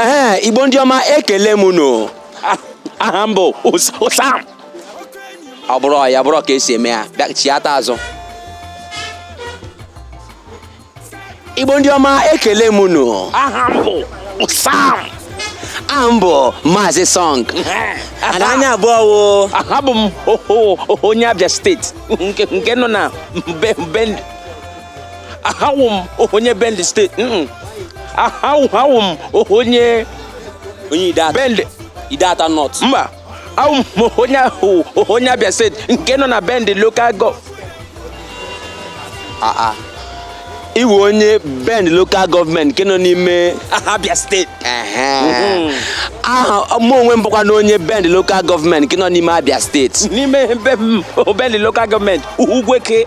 ee igbo ndị ọma ekele m unu aha m bụ ụsam ọ bụrụ ya bụrụ ka esi eme ya bịa chiata azụ igbo ndị ọma ekele m unu aha m bụ ụsam aha m bụ maazị sọng ana anya abụọ wo aha bụ m onye abịa steeti nke nọ na be aha wụ m onye bende steeti aha wụ m onye onye ideato bende ideato nọt mba awụ m onye ahụ onye abịa steeti nke nọ na bende lokal gọ aa ị wụ onye bende lokal gọọmenti nke nọ n'ime abịa steeti mhm. aha mụ onwe m bụkwanụ onye bende lokal gọọmenti nke nọ n'ime abịa steeti n'ime bende lokal gọọmenti ugwueke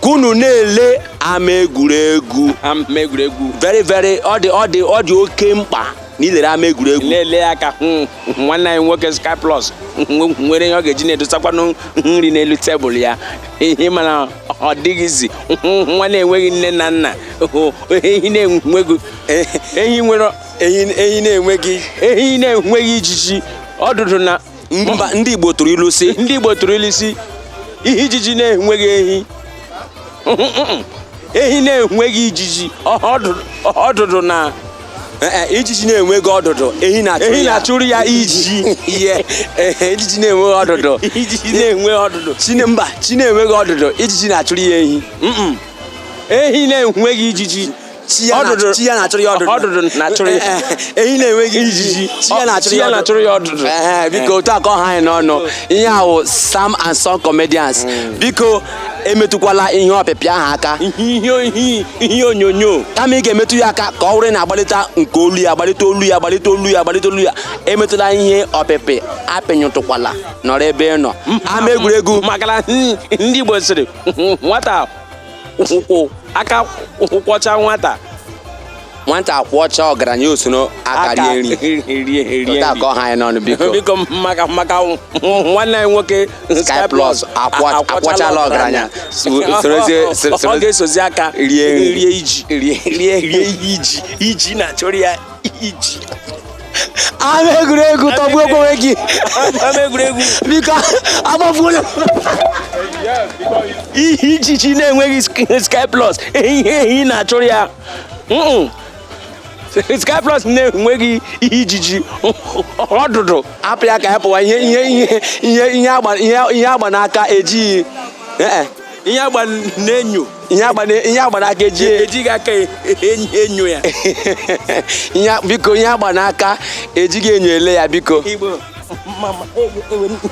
ka unu na-ele ama egwuregwu ama egwuregwu very very ọ dị ọ dị ọ dị oke mkpa na ilere ama egwuregwu na-ele ya ka nwanne anyị nwoke Sky Plus nwe- nwere ihe ọ ga-eji na-edosakwanụ nri n'elu tebụl ya ihe mana ọ dịghịzi nwa na-enweghị nne na nna ehi na-enweghị ehi nwere ehi ehi na-enweghị ehi na-enweghị ijiji ọdụdụ na mba ndị Igbo tụrụ ilu sị ndị Igbo tụrụ ilu sị ihe ijiji na-enweghị ehi ehi na-enweghị ijiji ọdụdụ na eh, eh, ijiji na-enweghị ọdụdụ ehi na-achụrụ ya ijiji ihe eh, ijiji na-enweghị ọdụdụ ijiji na-enweghị ọdụdụ mba chi na-enweghị ọdụdụ ijiji na-achụrụ ya ehi ehi na-enweghị ijiji Chi ya na- Ọdụdụ- chi ya na-achụrụ ya ọdụdụ. ọdụdụ na-achụrụ ya ehi na-enweghị ijiji chi ya na-achụrụ Chi ya na-achụrụ ya ọdụdụ. Ehe, biko otu a ka ọ ha anyị n'ọnụ ihe a wụ sam and son comedians biko emetụkwala ihe ọpịpịa ahụ aka ihe ihe ihe onyonyo kama ị ga-emetụ ya aka ka ọ wụrụ na agbalịta nke olu ya agbalịta olu ya agbalịta olu ya agbalịta olu ya emetụla ihe ọpịpị apịnyụtụkwala nọrọ ebe ị nọ ama egwuregwu makana ndị Igbo sịrị nwata ụkwụ aka ụkwụ kwọcha nwata nwata kwọcha ọgaranya o soro aka rie nri rie rie nri otu a ka ọ ha anyị n'ọnụ biko biko maka maka nwanne anyị nwoke Sky Plus akwa- a- akwọchala ọgaranya. So- Ọ- sorozie- ọ- so- ọ soro- ga-esozi aka rie nri. rie iji rie rie rie ijiji na-achụrụ ya iji ama egwuregwu tọgbuo onwe gị ama egwuregwu biko agbafuola ihe ijiji na-enweghị sky plus ihe ehi na-achụrụ ya sky plus na-enweghị ihe ijiji ọdụdụ hapụ ya ka ya pụwa ihe ihe ihe ihe agba n'aka ejighị ihe agba n'enyo ihe agba n'aka eji ejighị aka e, e, enyo ya biko ihe agba n'aka ejighị enyo ele ya biko e,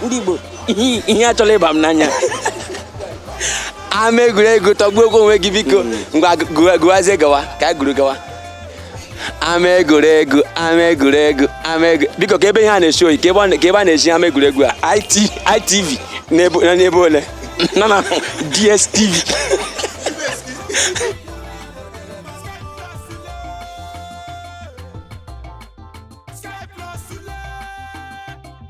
ndị Igbo ihe achọla ịba m n'anya ama egwuregwu tọgbuo onwe gị biko hmm. ngwa gụwazie gawa ka anyị gụrụ gawa ama egwuregwu ama egwuregwu ama egwu biko ka ebe ihe a na-eshi oyi ka ebe a na- ka ebe a na-eshi ama egwuregwu a IT ITV n'ebe na n'ebe ole na na DSTV